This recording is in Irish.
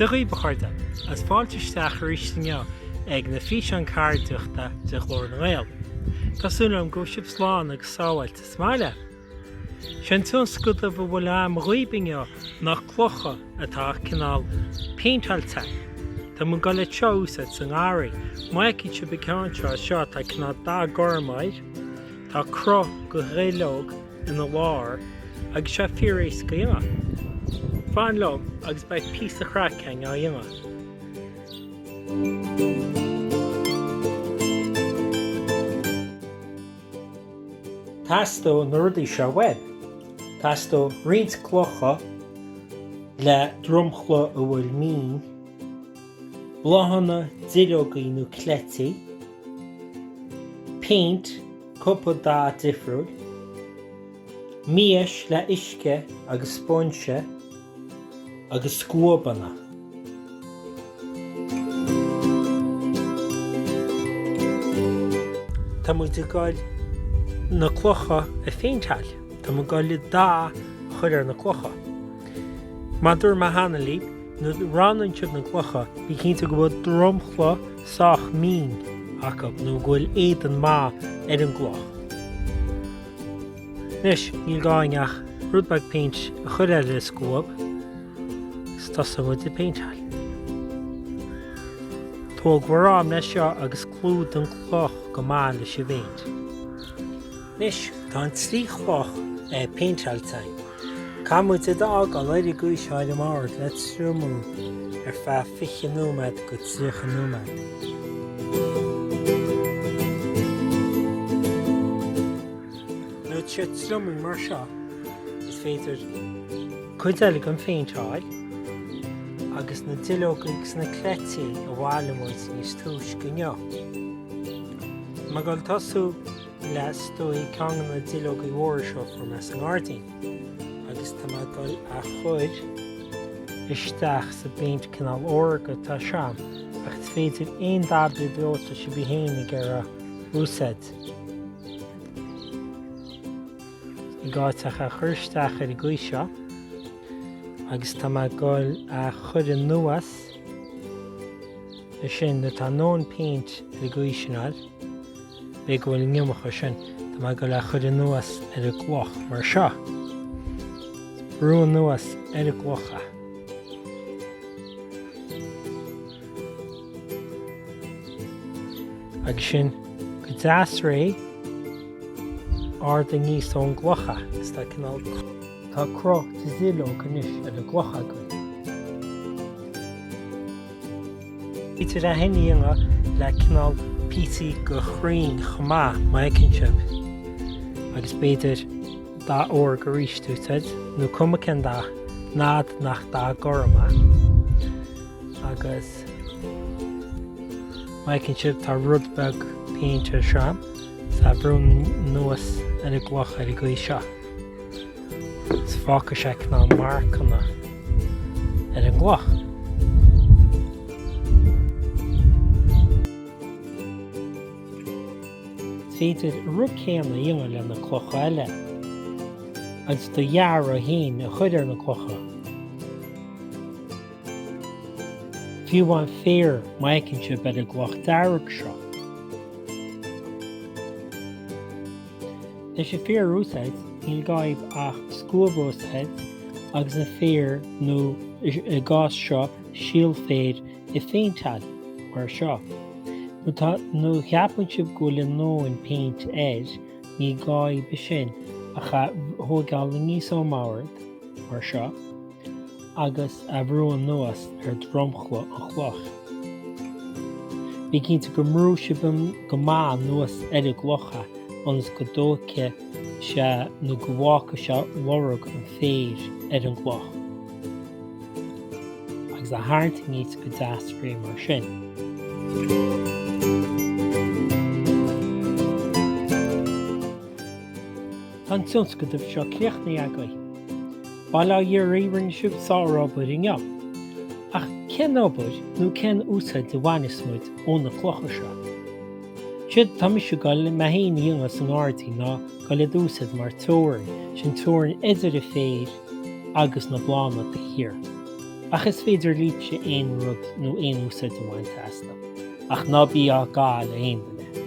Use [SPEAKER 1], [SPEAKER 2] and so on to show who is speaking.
[SPEAKER 1] Dia dhaoibh, a chairde, agus fáilte isteach arís inniu ag na físeáin ceardaíochta de Ghlór na nGael. Tá súil agam go bhfuil sibh slán agus sábháilte sa mbaile! Sén tionscadamh a bhfuil agam dhaoibh inniu ná clocha atá cineál péinteáilte. Tá muid ag goil iad seo a úsáid sa ngarraí. Má fheiceann sibh an ceann seo anseo atá cineál dath gorm air. Tá cruth de dhuilleog ina lár agus sé fíoréasca a dhéanamh. Fan liom agus beidh píosa craic againn á dhéanamh. Teastóidh na rudaí seo uaibh. Teastóidh roinnt clocha le dromchla a bhfuil mín, bláthanna, duilleogaí nó cleití, péint, cúpla dath difriúil, mias le huisce agus spóinse, agus scuabanna. Tá muid ag goil na clocha a phéinteáil. Tá muid ag goil dath a chur ar na clocha. Mar a dúirt mé cheana libh, nuair a roghnaíonn sibh na clocha, bí cinnte go bhfuil dromchla sách mín acu nó go bhfuil éadan maith ar an gcloch. Anois, níl gá againn ach rud beag péint a chur air le scuab is tosóidh muid ag péinteáil. Tóg bhur am leis seo agus clúdaigh an cloch go maith leis an bpéint. Anois, tá an trí chloch péinteáilte againn. Caithfidh muid iad a fhágáil ar an gcaoi seo ar leataobh le triomú ar feadh 20 nóiméad go 30 nóiméad. Nuair atá sé triomaithe mar seo, is féidir cuid eile a phéinteáil agus na duilleogaí is na cleití a bhailigh muid níos túisce inniu. Tá mé ag goil tosú le b'fhéidir ceann de na duilleoga mhóra seo a fuair mé sa ngairdín agus tá mé ag goil á chur isteach sa bpéint cineál órga atá agam ach is féidir aon dath ar bith atá sibh féin ag iarraidh a úsáid. Ní gá daoibh ach é a chur isteach ar an gcaoi seo agus tá mé ag dul a chur anuas ar sin nuair atá a ndóthain péint ar an gcaoi sin nó b'fhéidir go bhfuil an iomarca ar sin, tá mé ag dul a chur anuas ar an gcloch mar seo. Brú anuas ar an gcloch. Agus sin go deas réidh, ardú aníos ón gcloch, is tá cineál Tá cruth de dhuilleog anois ar an gcloch agaibh. Is féidir é sin a dhéanamh le cineál píosaí de chrainn chomh maith, má fheiceann sibh. Agus b'fhéidir dath uaine arís a úsáid nó is cuma cén dath, nó dath gorm. agus má fheiceann sibh tá rud beag péint ar seo agus é a bhrú anuas ar an gcloch ar an gcaoi seo 's fágfaidh sé na marcanna ar an gcloch. Is féidir an rud céanna a dhéanamh le na clocha eile agus do dhearadh fhéin a chur ar na clocha. Fiú amháin féar má fheiceann sibh ar an gcloch dearg seo. Leis an féar a úsáid ní gá daoibh ach scuab a úsáid agus an féar nó sa gcás seo síol féir a phéinteáil mar seo. Nuair atá nó cheapann sibh go bhfuil a ndóthain péint air ní gá daoibh ansin ach é a thóigeáil aníos ón mbord mar seo. agus é a bhrú anuas ar dhromchla an chloich. Bí cinnte go mbrú sibh go maith anuas ar an gcloch ionas go dtógfaidh sé nó go bhfágfaidh sé lorg an féir ar an gcloch agus é a tharraingt aníos go deas réidh mar sin. Tá an tionscadamh seo críochnaithe agaibh. Bail ó Dhia oraibh, rinne sibh sárobair inniu. Ach cén obair nó cén úsáid a bhaineas muid ó na clocha seo? Séard atá mise ag dul liom féin a dhéanamh sa ngairdín ná dul iad a úsáid mar teorainn, sin teorainn idir an féar agus na bláthanna taobh thiar. Ach is féidir libhse aon rud nó aon úsáid a bhaint astu. Ach ná bí á gcaitheamh le aon duine.